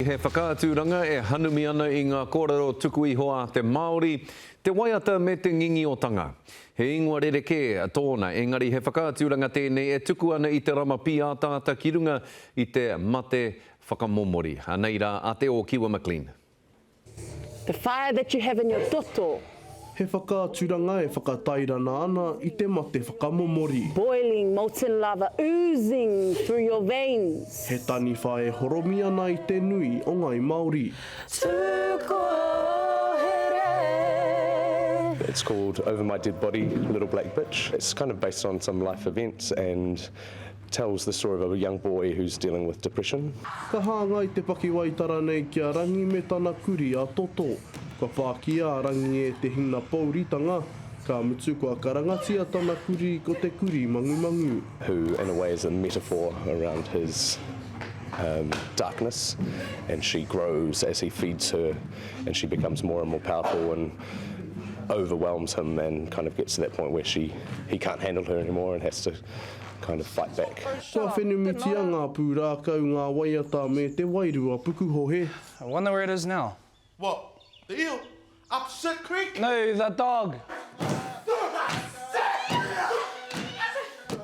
He whakaaturanga e hanumi ana i ngā kōrero tuku iho a te Māori, te waiata me te ngingiotanga. He ingoa rerekē tōna, engari he whakaaturanga tēnei e tuku ana i te rama pīataata ki runga i te mate whakamomori. Anei rā a Te Ōkiwa McLean. The fire that you have in your toto. He whakaaturanga e whakatairana ana i te mate whakamomori. Boiling molten lava oozing through your veins. He taniwha e horomi ana i te nui o Ngai Maori. Tūkohere. It's called Over My Dead Body, Little Black Bitch. It's kind of based on some life events and. tells the story of a young boy who's dealing with depression. Ka hāngai te pakiwaitara nei ki a Rangi me tana kuri a Toto. Kua whāki a Rangi e te hinapouritanga, ka mutu kua karangatia tana kuri ko te kuri mangumangu. who in a way is a metaphor around his um darkness and she grows as he feeds her and she becomes more and more powerful and overwhelms him and kind of gets to that point where she he can't handle her anymore and has to kind of fight back. Kua whenumutia ngā pūrākau, ngā waiata me te wairua pukuhohe. I wonder where it is now. What? The eel? Up Sir Creek? No, the dog!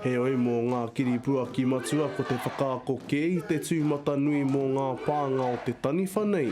Heoi, mō ngā kiripuaki matua ko te whakaako kē i te tūmatanui mō ngā pānga o te taniwha nei,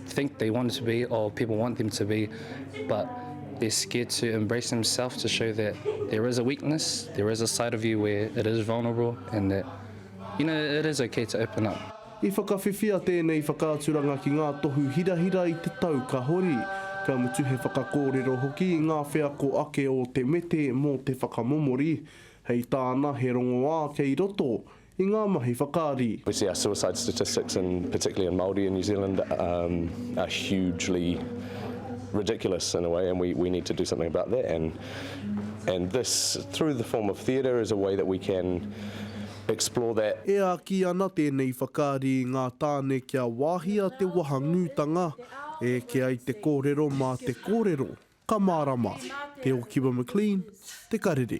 think they want to be or people want them to be, but they're scared to embrace themselves to show that there is a weakness, there is a side of you where it is vulnerable and that, you know, it is okay to open up. I whakawhiwhia tēnei whakaaturanga ki ngā tohu hirahira i te tau ka hori, ka mutu he whakakōrero hoki i ngā wheako ake o Te Mete mō te whakamomori, hei tāna he rongoā kei roto i ngā mahi whakaari. We see our suicide statistics in particularly in Māori in New Zealand um are hugely ridiculous in a way and we we need to do something about that and and this through the form of theatre is a way that we can explore that. E āki ana tēnei whakaari i ngā tāne kia wāhia te wahangūtanga, e eke ai te kōrero mā te kōrero, ka mārama, Te Okiwa McLean, Te Karere.